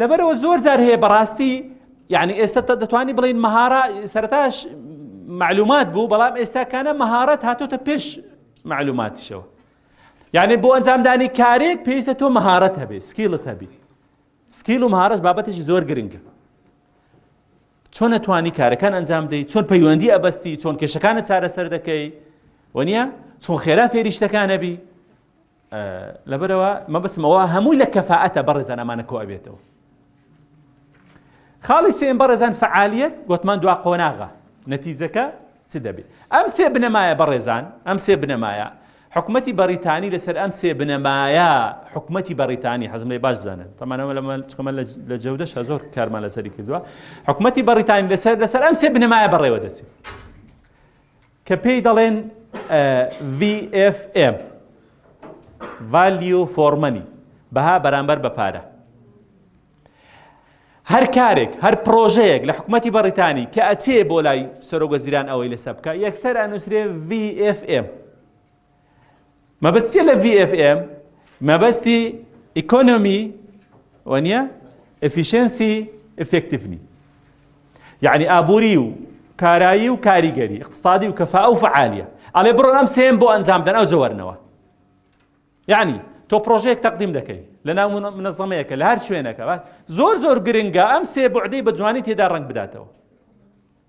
A: لەبەرەوە زۆر جار هەیە بەڕاستی یعنی ئێستا دەتوانانی بڵین مەهارە سەرتاش معلومات بوو بەڵام ئێستاکانە مەهارەت هاتۆتە پێش معلوماتیشەوە یعنی بۆ ئەنجامدانی کارێک پێویستە تۆ مەهارەت هەبێ سکیلت هەبی سکیل و مهارەش بابەتێکی زۆر گرنگە چۆن نەتوانی کارەکان ئەنجام دەی چۆن پەیوەندی ئەبەستی چۆن کێشەکانە چارەسەر دەکەی وە نیە چۆن خێرا فێریشتەکانەبی لەبەرئەوە مەبەستم ئەوە هەمووی لە کەفائەتە بەڕێزان ئەمانە کۆ ئەبێتەوە خاڵی سێم بەڕێزان فعالیت گوتمان دوا قۆناغە نەتیجەکە چ دەبێت ئەم سێ بنەمایە بەڕێزان ئەم سێ بنەمایە حکومەتی بەریتانی لەسەر ئەم سێ بنەمایە حکومەتی بەریتانی حەزم لێ باش بزانن تەمانەوە لەمەکەمە لە جەودەش زۆر کارمان لەسەری کردووە حکومەتی بەریتانی لەسەر لەسەر ئەم سێ بنەمایە بەڕێوە دەچێت کە پێی دەڵێن VFM، Value for Money، بەها بەرامبەر بە پارە. هەر کارێک هەر پرۆژەیەک لە حکوومەتی بەڕیتانی کە ئەچێ بۆ لای سەرۆک وەزیران ئەوەی لەسەر بکە یەکسەر ئەنووسرێ VFM مەبەستیە لە VFM مەبەستی ئیکۆنۆمی وەنیە ئەفیشنسی ئفکتفنی یعنی ئابووری و کارایی و کاریگەری اقتصادی و کەفا ئەو فعالیە ئەڵێ بڕۆن ئەم سێم بۆ ئەنجام دەن ئەو جەوەرنەوە یعنی تۆ پرۆژێک تەقدیم دەکەی لە ناو منەزەمەیەکە لە هەر شوێنەکە زۆر زۆر گرنگە ئەم سێ بەعدەی بە جوانی تێدا ڕنگ بداتەوە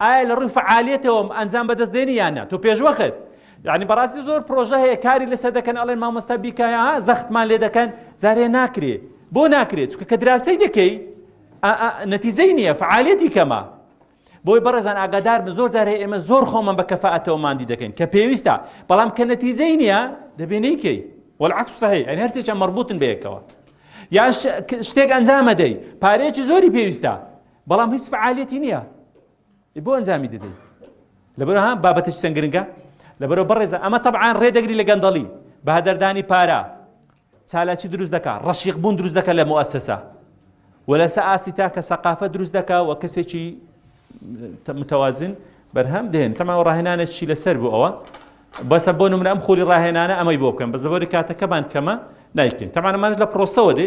A: ئایا لە ڕووی فەعالیەتەوەم ئەنجام بەدەست دێنی یان نا تۆ پێشوەخت یعنی بەڕاستی زۆر پرۆژە هەیە کاری لەسەر دەکەن ئەڵێن مامۆستا بیکە ها زەختمان لێ دەکەن جارێ ناکرێ بۆ ناکرێ چونکە کە دراسەی دەکەی نەتیجەی نییە فعالەتی کەمە بۆی بەڕێزان ئاگادار بن زۆر جارێ ئێمە زۆر خۆمان بە کەفاەتەوە مادی دەکەین کە پێویستە بەڵام کە نەتیجەی نییە دەبێ نەیکەی والعکس صحیح ئەین هەرسێکیان مربوطن بەیەکەوە یان شتێک ئەنجامەدەی پارێکی زۆری پێویستە بەڵام هیچ فعالیەتی نییە بۆ ئەنجامی دەدەی لەبەر ها بابەتش چەند گرنگە لەبەرەوە بەڕێزە ئەمە تەبعاان ڕێدەگری لە گەندەڵی بە هەدەردانی پارە چالاکی دروست دەکا ڕەشیق بوون دروست دەکە لە مؤسسە و لەسە ئاستی تاکە سەقافە دروست دەکا و کەسێکی متوازن بەرهەم دێن تەماوە ڕاهێنانە چی لەسەر بوو ئەوە بەسە بۆ نمرە ئەم خۆلی ڕاهێنانە ئەمەی بۆ بکەم بەس دەبەری کاتەکەمان کەمە نایکەین تەمانەمانش لە پرۆسەوە دێ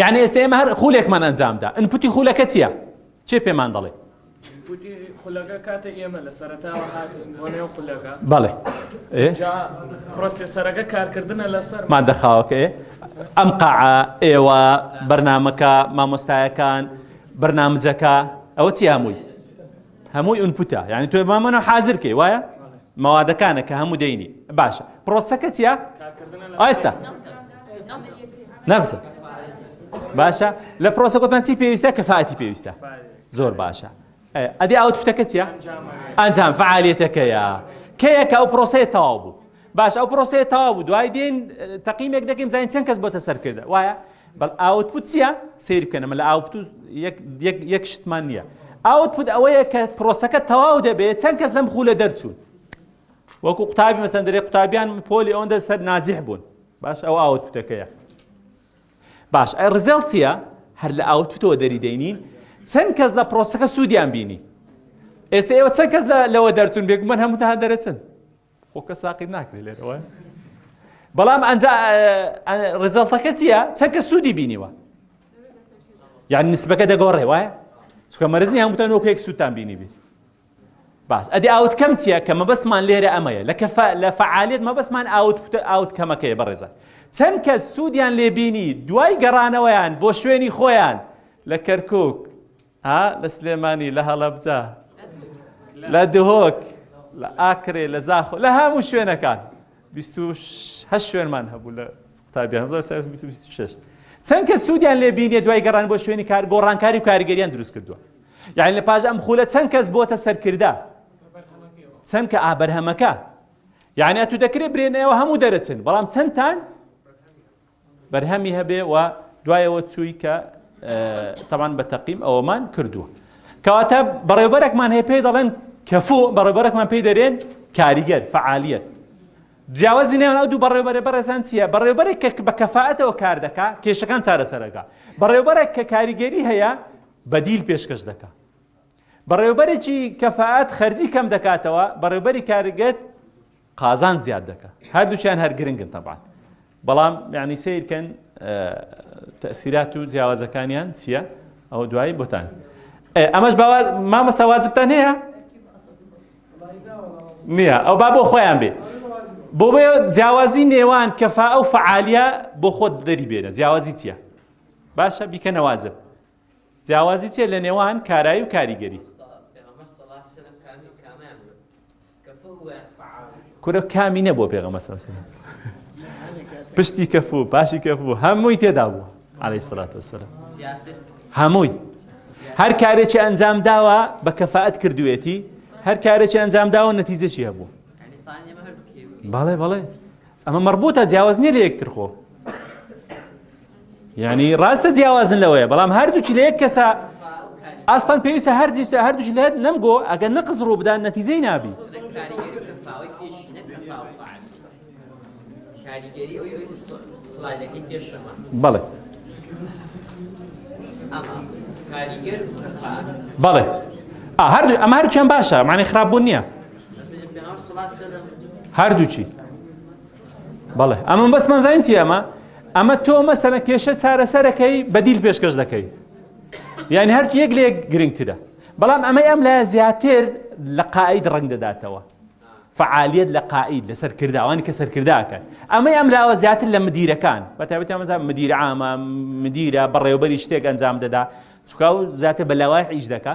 A: یعنی ئێستا ئێمە هەر خولێکمان ئەنجامدا ئەنپوتی خولەکە چییە چێ پێمان دەڵێ خولەکە
B: کاتە ئێمە لە سەرتاوە هاتین بۆ نێو خولەکە
A: بەڵێ پرۆسیسەرەکە
B: کارکردنە لەسەر مادە خاوەکەی
A: ئەم قاع ئێوە بەرنمەکە مامۆستایەکان بەرنامجەکە ئەوە چی هەمووی هەمووی ئونپوتە یعنی تۆ مامە نە حازر کەی وایە مەوادەکانە کە هەموو دەینی باشە پرۆسەکە چیا ئایستا نەفسە باشە لە پرۆسە گوتمان چی پێویستە کە فاتی پێویستە زۆر باشە ئەدی ئاوت فتەکە چیە ئەنجام فعالیتەکەیە کەیەکە ئەو پرۆسەیە تەواو بوو باشە ئەو پرۆسەیە تەواو بوو دوای دێن تەقیمێک دەکەین بزانین چەند کەس بۆتە سەرکردە وایە بەڵ ئاوتپوت چییە سیر بکەن ئەمە لە ئاوتپوت یەک شتمان نییە ئاوتپوت ئەوەیە کە پرۆسەکە تەواو دەبێت چەند کەس لەم خولە دەرچوون وەکو قوتابی مەسەن دەرێ قوتابیان پۆلی ئەوەندە سەر ناجیح بوون باش ئەو ئاوتپوتەکەیە باش ئەی ڕزێڵ چییە هەر لە ئاوتپوتەوە دەری دەینین چەند کەس لە پرۆسەکە سوودیان بینی ئێستا ئێوە چەند کەس لەوە دەرچون بێگومان هەمووتان دەرەچن خۆ کە ساقیت ناکرێت لێرەوە بەڵام ئەنجا ڕزەڵتەکە چییە چەکە سوودی بینیوە یان نسبەکە دەگۆڕێ وایە چکە مەرزنی هەمووتان وەکێک سووتان بینی بیت باش ئەدی ئاوت کەم چییە کە مەبەستمان لێرە ئەمەیە لە کەف لە فعالیت مەبەستمان ئاوت ئاوت کەمەکەی بەڕێزە چەند کە سوودیان لێبینی دوای گەڕانەوەیان بۆ شوێنی خۆیان لە کەرکک ها لە سلێمانی لە هەڵەبجە لە دهۆک لە ئاکرێ لە زاخۆ لە هەموو شوێنەکان هە شوێنمان هەبوو لە قوتابیان چەند کە سوودیان لێ بینێ دوای گەڕان بۆ شوێنی کار گۆڕانکاری و کاریگەریان دروست کردووە یعنی لە پاش ئەم خولە چەند کەس بۆتە سەرکردا چەند کە ئابەرهەمەکە یعنی تو دەکرێت برێنەوە هەموو دەرەچن بەڵام چەندتان بەرهەمی هەبێ و دوایەوە چووی کە تەمان بە تەقیم ئەوەمان کردووە کەواتە بەڕێوبەرێکمان هەیە پێی دەڵێن کەفۆ بەڕێبەرێکمان پێی دەرێن کاریگەر فعالیت جیاوازی نێوان ئەو دوو بەڕێوبەرە بەڕێزان چییە بەڕێوبەرێک کە بە کەفاەتەوە کار دەکا کێشەکان چارەسەرەکە بەڕێوبەرێک کە کاریگەری هەیە بەدیل پێشکەش دەکە بەڕێوەبەرێکی کەفائەت خەرجی کەم دەکاتەوە بەڕێوەبەری کارگەت قازان زیاد دەکە هەردووچیان هەر گرنگن تەبان بەڵام یعنی سیرکەن تەسیرات و جیاوازەکانیان چییە ئەو دوایی بۆتان ئەمەش مامەستا واجبتان هەیە نییە ئەو با بۆ خۆیان بێ بۆ بێ جیاوازی نێوان کەفا ئەو فعالیە بۆ خۆت دەری بێنە جیاوازی چییە باشە بیکە نەواجب جیاوازی چیە لە نێوان کارایی و کاریگەری؟ کورە کامی نەبووە پێغەمبەر صلی الله علیه وسلم پشتی کەفو پاشی کەفو هەمووی تێدا بوو علیه الصلاة والسلام هەمووی هەر کارێکی ئەنجام داوە بە کەفاەت کردوێتی هەر کارێکی ئەنجام داوە نەتیجەشی هەبوو بەڵێ بەڵێ ئەمە مەڕبووتە جیاواز نیە لە یەکتر خۆ یعنی ڕاستە جیاوازن لەوەیە بەڵام هەردووچی لە یەک کەسە ئاستان پێویستە هەردیست هەردووش لێت نەمگۆ ئەگەر نەقز ڕوو بدان نەتیجەی نابی بەڵێ بەڵێ هەردوو ئەمە هەرچیان باشە معنی خراپبوو نییە هەردووچی بەڵێ ئەمە بەس مەزانین چی ئەمە ئەمە تۆ مەسەنە کێشە چارەسەرەکەی بەدیل پێشکەش دەکەی یعنی هەرکی یەک لێک گرنگترە بەڵام ئەمەی ئەم لە زیاتر لە قاعید ڕنگ دەداتەوە فعالیت لە قاعید لە سەرکرداوانی کە سەرکرداکەن ئەمەی ئەم لاوە زیاتر لە مدیرەکان بەتابێتە مەزان مدیر عامە مدیرە بەڕێوبەری شتێک ئەنجام دەدا چکاو زیاتر بە لەوای ئیش دەکە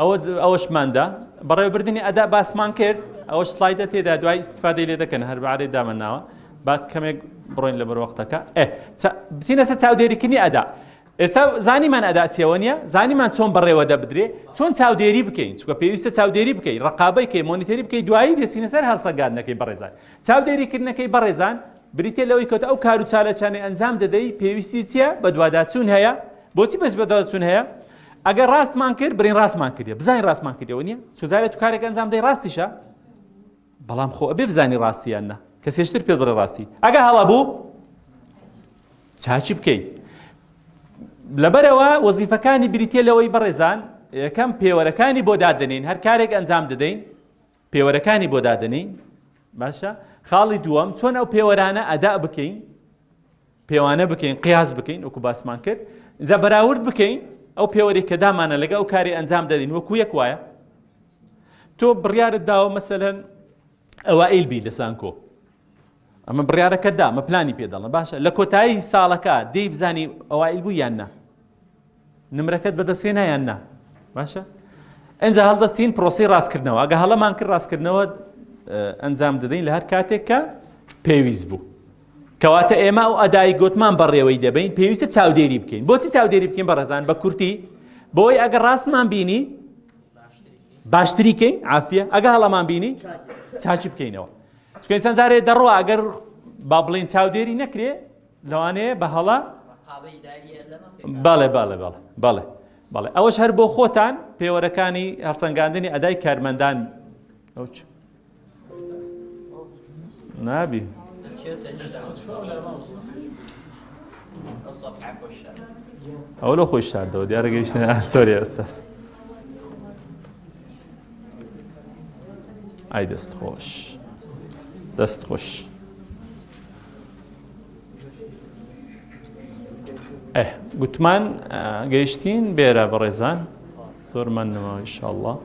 A: ئەوە ئەوەشماندا بەڕێوەبردننی ئەدا باسمان کرد ئەوە سلایدە تێدا دوای استفادەی لێ دەکەن هەر بەعاێ دامەناوە با کەمێک بڕۆین لە بەروەختەکە بچینە سەر چاودێریکردنی ئەدا ئێستا زانیمان ئەداچیەوە نیە زانیمان چۆن بەڕێوە دەبدرێ چۆن چاودێری بکەین چکە پێویستە چاودێری بکەین ڕقابەی کەی مۆنیتەری بکەی دوایی دەچینە سەر هەڵسەگادنەکەی بەڕێزان چاودێریکردنەکەی بەڕێزان بریتیە لەوەی کەوتە ئەو کارو چالاکیانەی ئەنجام دەدەی پێویستی چیە بەدواداچون هەیە بۆچی بەس بەدواداچون هەیە ئەگەر ڕاستمان کرد برین ڕاستمان کردە بزانین ڕاستمان کردەوە نیە چزارێت تو کارێک ئەنجام دەی ڕاستیشە بەڵام خۆ ئەبێ بزانی ڕاستیان نە کە سێشتر پێ بڕێ ڕاستی ئەگە هەڵا بوو چاچی بکەیت لەبەرەوە وەزیفەکانی بریتە لەوەی بەڕێزان یەکەم پێوەرەکانی بۆ دادنین هەر کارێک ئەنجام دەدەین پێوەرەکانی بۆ دادەنێین باشە خاڵی دووەم چۆن ئەو پێوەرانە ئەدا بکەین پێوانە بکەین قیاس بکەین وەکو باسمان کرد جا بەراورد بکەین ئەو پێوەری کە دامانە لەگە ئەو کاری ئەنجام دەدەین وەکو یەک وایە تۆ بڕیارت داوە مەسەەن ئەوائیل بی لە سانکۆ ئەمە بڕیارەکە دا مە پلانی پێ دەڵم باشە لە کۆتایی ساڵەکە دەی بزانانی ئەوائیل بوو یان نا نمرەکەت بەدەسێ نایان نا باشە ئەجا هەڵدەستین پرۆسی ڕاستکردنەوە ئەگە هەڵەمان کرد ڕاستکردنەوە ئەنجام دەدەین لە هەر کاتێک کە پێویست بوو کەواتە ئێمە ئەو ئەدای گوتمان بەڕێوەی دەبین پێویستە چاودێری بکەین بۆچی چاودێری بکەین بەڕێزان بە کورتی بۆی ئەگە ڕاستمان بینی باشتری کەین عافە ئەگە هەڵەمان بینی چاچی بکەینەوە چونکە ئینسان جارێ دەڕوا ئەگەر با بڵێن چاودێری نەکرێ لەوانەیە بە هەڵە بەڵێ بەڵێ بەڵێ بەڵێ بەڵێ ئەوەش هەر بۆ خۆتان پێوەرەکانی هەڵسەنگاندنی ئەدای کارمەندان ئەوچ نابی ئەوە لە خۆی شاردەوە دیارە گەیشتە سۆری ئەستاس ئای دەست خۆش دەست خۆش گوتمان گەیشتین بێرە بەڕێزان زۆرمان نەماوە انشاءالله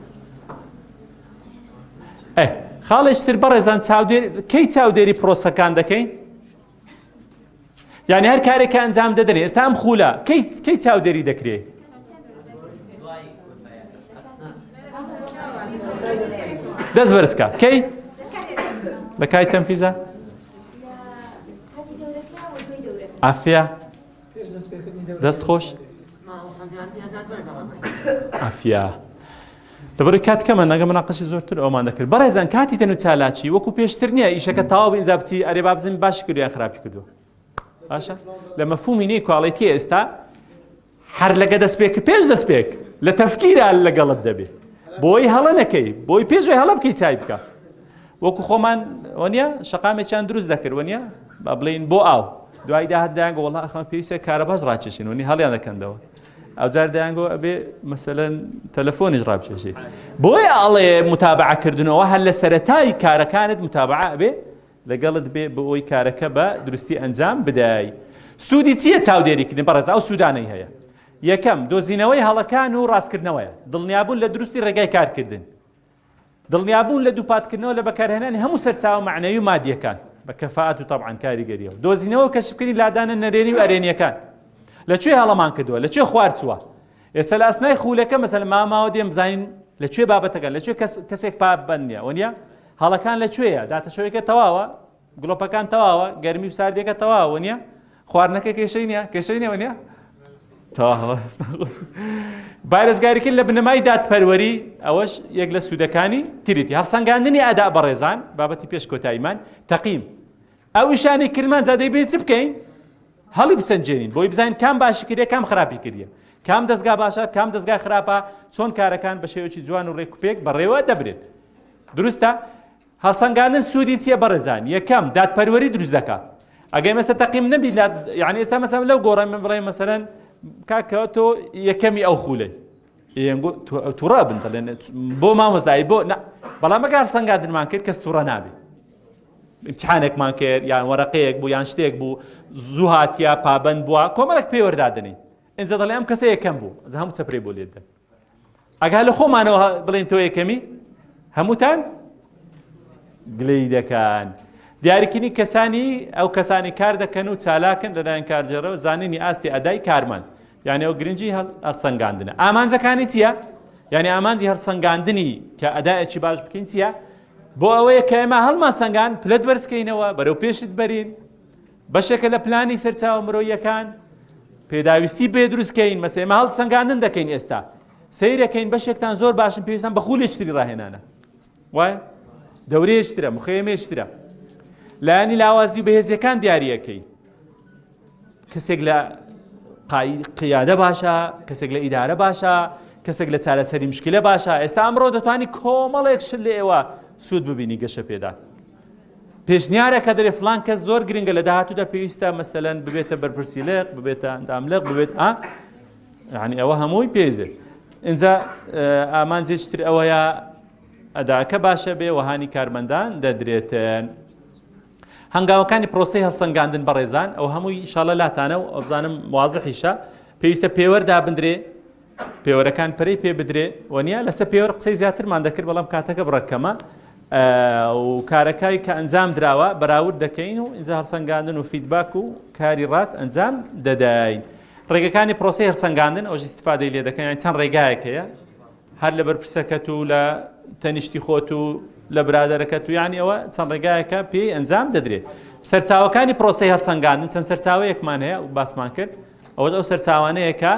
A: ئەه خاڵێشتر بەڕێزان چاودێر کەی چاودێری پرۆسەکان دەکەین یعنی هەر کارێکە ئەنجام دەدەێ ئێستا ئەم خولە کەی چاودێری دەکرێت دەست بەرزکە کەی لە کای تەمپیزە ئافیا دەست خۆش ئەفیا دەبڕی کات کەمە نەگە مناقەشی زۆرتر ئەومان دەکرد بەڕێزان کاتی تەنو چالاکی وەکو پێشتر نییە ئیشەکە تاوا ئینجا بچی ئەرێ با بزن باش کرد یان خراپی کردو باشە لە مەفهومی نی کواڵێتی ئێستا هەر لەگە دەستپێک پێش دەستپێک لە تەفکیرا لەگەڵت دەبێت بۆی هەڵە نەکەی بۆی پێشی هەڵە بکەی چای بکە وەکو خۆمان وەنیە شقامێکیان دروست دەکرد وەنیە با بڵین بۆ ئاو دوای داهات دایان گۆڵ ئەخمە پێویستە کارەباز ڕاکێشین وەنی هەڵیان دەکەندەوە ئەوجار دەیانگۆ ئەبێ مەسەەن تەلەفۆنیش ڕابچێشی بۆی ئاڵێ متابعکردنەوە هەر لە سەتای کارەکانت متابعە بێ لەگەڵت بێ بۆ ئەوی کارەکە بە درستی ئەنجام بدای سوودی چییە چاودێریکردن بەڕێز ئەو سوودانەی هەیە یەکەم دۆزینەوەی هەڵەکان و ڕاستکردنەوەیە دڵنیابوون لە دروستی ڕێگای کارکردن دڵنیابوون لە دووپاتکردنەوە لە بەکارهێنانی هەموو سەرچاوە مەعنەوی و مادییەکان بە کەفائەت و تەبعەن کاریگەرییەوە دۆزینەوە و کەشفکردنی لادانە نەرێنی و ئەرێنییەکان لە کوێ هەڵەمان کردووە لە کوێ خوار چووە ئێستا لە ئەسنای خوولەکە مەسەلە ماماوە دێم بزانین لە کوێ بابەتەکان لە کوێ کەسێک پابەند نیە وە نیە هەڵەکان لە کوێیە داتەشەوەیەکە تەواوە گڵۆپەکان تەواوە گەرمی و ساردیەکە تەواوە نییە خواردنەکە کێشەی نیە کێشەی نیەوە نیە تەواوە بارزگاریکرد لە بنەمای دادپەروەری ئەوەش یەک لە سوودەکانی تریتی هەڵسەنگاندنی ئەدا بەڕێزان بابەتی پێش کۆتاییمان تەقیم ئەو شانی کردمان زادەی بێت چ بکەین هەڵی بسەنجێنین بۆی بزانین کام باشی کردە کام خراپی کردە کام دەستگا باشە کام دەستگای خراپە چۆن کارەکان بە شێوەی جوان و ڕێکوپێک بەڕێوە دەبرێت دروستە هەڵسەنگاندن سوودی چیە بەڕێزان یەکەم دادپەروەری دروست دەکات ئەگەر مەسە تەقیم نەبی لە یعنی ئێستا مەسەم لەو گۆڕێ من بڵێ مەسەرەن کاکەوە تۆ یەکەمی ئەو خوولەی تووڕە بن دەڵێن بۆ مامۆستایی بۆ بەڵام ئەگەر سەنگادنمان کرد کەس تووڕە نابێت امتحانێکمان کرد یان وەرەقەیەک بوو یان شتێک بوو زوو هااتیا پابند بووە کۆمەڵک پێوەدادنی ئەجا دەڵێ ئەم کەسە یەکەم بوو هەموو چەپری بۆ لێدن ئەگەر لە خۆمانەوە بڵێن تۆ یەکەمی هەمووتان گلەی دەکەن دیارکردنی کەسانی ئەو کەسانی کار دەکەن و چالاکن لەلایەن کارجێڕەوە زانینی ئاستی ئەدای کارمان یعنی ئەو گرنگی هەڵسەنگاندنە ئامانجەکانی چییە؟ یعنی ئامانجی هەڵسەنگاندنی کە ئەدایەکی باش بکەین چییە؟ بۆ ئەوەیە کە ئێمە هەڵمان سەنگان پلت بەرزکەینەوە بەرەو پێشت بەرین بەشێکە لە پلانی سەرچاوە مرۆییەکان، پێداویستی بێ دروست کەین، مەسەی ئێمە هەڵسەنگاندن دەکەین ئێستا. سەیرەکەین بەشێکتان زۆر باشن پێویستان بە خولێکتری ڕاهێنانە. وایە؟ دەورێشترە، مخێمێشترە. لایەنی لاوازی و بەهێزیەکان دیارەکەی. کەسێک لە قیادە باشە، کەسێک لە ئیدارە باشە، کەسێک لە چارەسەری مشکلە باشە، ئێستا ئەمڕۆ دەتوانانی کۆمەڵێک شل لە ئێوە سوود ببینی گەشە پێدا. پێشنیارە کە دەرێ فلان کەس زۆر گرنگە لە داهاتوودا پێویستە مەسەلەن ببێتە بەرپرسی لێق ببێتە ئەنداملق ببێت ئا یعنی ئەوە هەمووی پێزێت اینجا ئامانجێکتر ئەوەیە ئەداکە باشە بێ وەهانی کارمەندان دەدرێتن. هەنگاوەکانی پرۆسی هەڵسەنگاندن بەڕێزان ئەو هەمووی شاڵە لاتانە و ئەوزانم وازحیشە پێویستە پێوەردا بندرێ پێوەرەکان پەرەی پێ بدرێ و نیا لەسەر پێوەر قسەی زیاترمان دەکرد بەڵام کاتەکە بڕەکەمە و کارەکای کە ئەنجام دراوە بەراورد دەکەین و ئینجا هەڵسەنگاندن و فیدباک و کاری ڕاست ئەنجام دەداین ڕێگەکانی پرۆسی هەرسەنگاندن ئەو استفادەی لێ دەکەن چەند ڕێگایەک هەیە هەر لە بەرپرسەکەت و لە تەنیشتی خۆت و لە برادەرەکە تو یانی ئەوە چەند ڕێگایەکە پێی ئەنجام دەدرێت سەرچاوەکانی پرۆسی هەڵسەنگاندن چەند سەرچاوەیەکمان هەیە و باسمان کرد ئەوە ئەو سەرچاوانەیەکە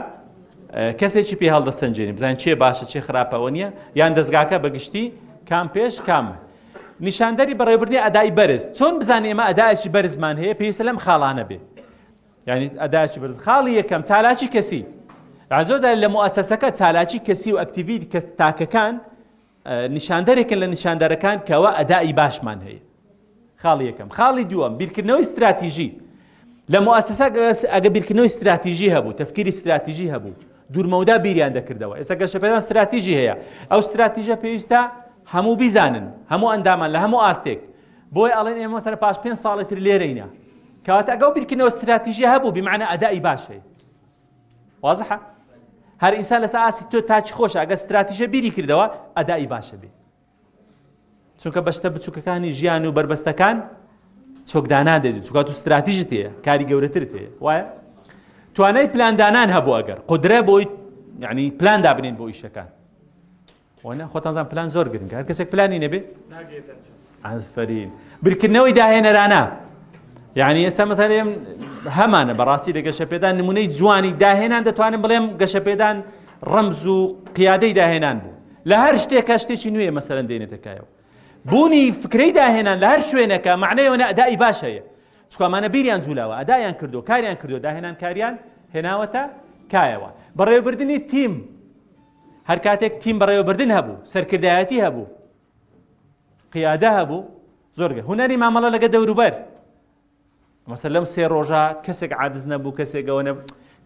A: کەسێکی پێ هەڵدەسەنجێنی بزانین چێ باشە چێ خراپە ئەوە نییە یان دەستگاکە بەگشتی کام پێش کام نیشاندەری بەڕێوبردنی ئەدای بەرز چۆن بزانین ئێمە ئەدایکی بەرزمان هەیە پێویستە لەم خاڵانە بێ یعنی ئەدایکی بەرز خاڵی یەکەم چالاکی کەسی زۆر لە موسەسەکە چالاکی کەسی و ئەکتیوی تاکەکان نیشاندەرێکن لە نیشاندەرەکان کەوا ئەداء ی باشمان هەیە خاڵی یەکەم خاڵی دووەم بیرکردنەوەی ستراتیژی لە موسسا ئەگە بیرکردنەوەی ستراتیژی هەبوو تەفکیری ستراتیژی هەبوو دوورمەودا بیریان دەکردەوە ئێستا گەشەپێدان ستراتیژی هەیە ئەو ستراتیژە پێویستە هەموو بیزانن هەموو ئەندامان لە هەموو ئاستێک بۆی ئەڵێن ئێمە سەر پاش پێ ساڵی تر لێرەینە کەواتە ئەگەڵ بیرکردنەوە ستراتیژی هەبوو بمانە ئەدای باشەی وازحە هەر ئینسان لەسە ئاسی تۆ تاچی خۆشە ئەگە ستراتیژە بیری کردەوە ئەدای باشە بێ چونکە بەشتە بچووکەکانی ژیان و بربەستەکان چۆکدانان دێت چوکات و ستراتیژت هەیە کاری گەورەتر تێ وایە توانای پلاندانان هەبوو ئەگەر قدرە بۆی یعنی پلان دابنین بۆ ئیشەکان وانە خۆتان زان پلان زۆر گرنگە هەر کەسێک پلانی نەبێ ئەفرین بیرکردنەوەی داهێنەرانە یعنی ئێستا مەتەرێم هەمانە بەڕاستی لە گەشەپێدان نمونەی جوانی داهێنان دەتوانم بڵێم گەشەپێدان ڕەمز و قیادەی داهێنان بوو لە هەر شتێکە شتێکی نوێ مەسەرەن دێنێتەکایەوە بوونی فکرەی داهێنان لە هەر شوێنەکە معنەیەوەە ئەدای باش هەیە چکامانە بیریان جوولاوە ئەدایان کردو کاریان کردو داهێنان کاریان هێناوەتە کایەوە بەڕێوبردننی تیم هەر کاتێک تیم بەڕێوەبردن هەبوو سەرکردایەتی هەبوو قیادە هەبوو زۆرگە هوەری مامەڵە لەگە دەوروبەر مەسە لەم سێ ڕۆژە کەسێک عادز نەبوو کەسێکەوە نە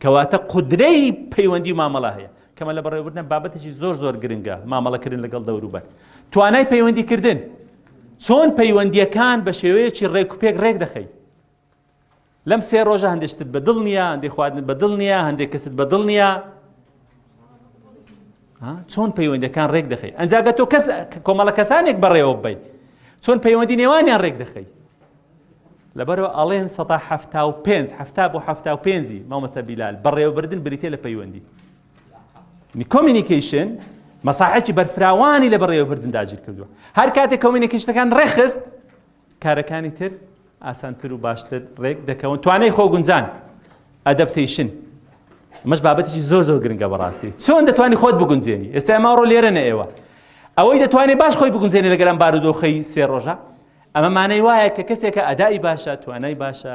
A: کەواتە قودرەی پەیوەندی مامەڵە هەیە کەمە لە بەڕێوەبردن بابەتێکی زۆر زۆر گرنگە مامەڵەکردن لەگەڵ دەوروبەر توانای پەیوەندیکردن چۆن پەیوەندیەکان بە شێوەیەکی ڕێکوپێک ڕێک دەخەیت لەم سێ ڕۆژە هەندێک شتت بە دڵ نییە هەندێک خواردنت بە دڵ نییە هەندێک کەست بە دڵ نییە چۆن پەیوەندەکان ڕێک دەخەی ئەنجاگە تۆ کەس کۆمەڵە کەسانێک بەڕێوە بی چۆن پەیوەندی نێوانیان ڕێک دەخەی لەبەرەوە ئەڵێن سە هەفتا و پێنج هەفتا بۆ هەفتا و پێنجی مامەسە بیلال بەڕێوەبردن بریتێ لە پەیوەندی کۆمینیکیشن مەساحەکی بەرفراوانی لە بەڕێوەبردن داگیر کردووە هەر کاتێک کۆمینیکیشتەکان ڕێخست کارەکانی تر ئاسانتر و باشتر ڕێک دەکەون توانای خۆگونجان ئەدەپتەیشن مەش بابەتێکی زۆر زۆر گرنگە بەڕاستی چۆن دەتوانانی خۆت بگونجێنی ئێستا ماڕۆ لێرە نە ئێوە ئەوەی دەتوانێت باش خۆی بگونجێنی لەگەرم بارودۆخی سێ ڕۆژە ئەمە مانەی وایە کە کەسێکە ئەدای باشە توانای باشە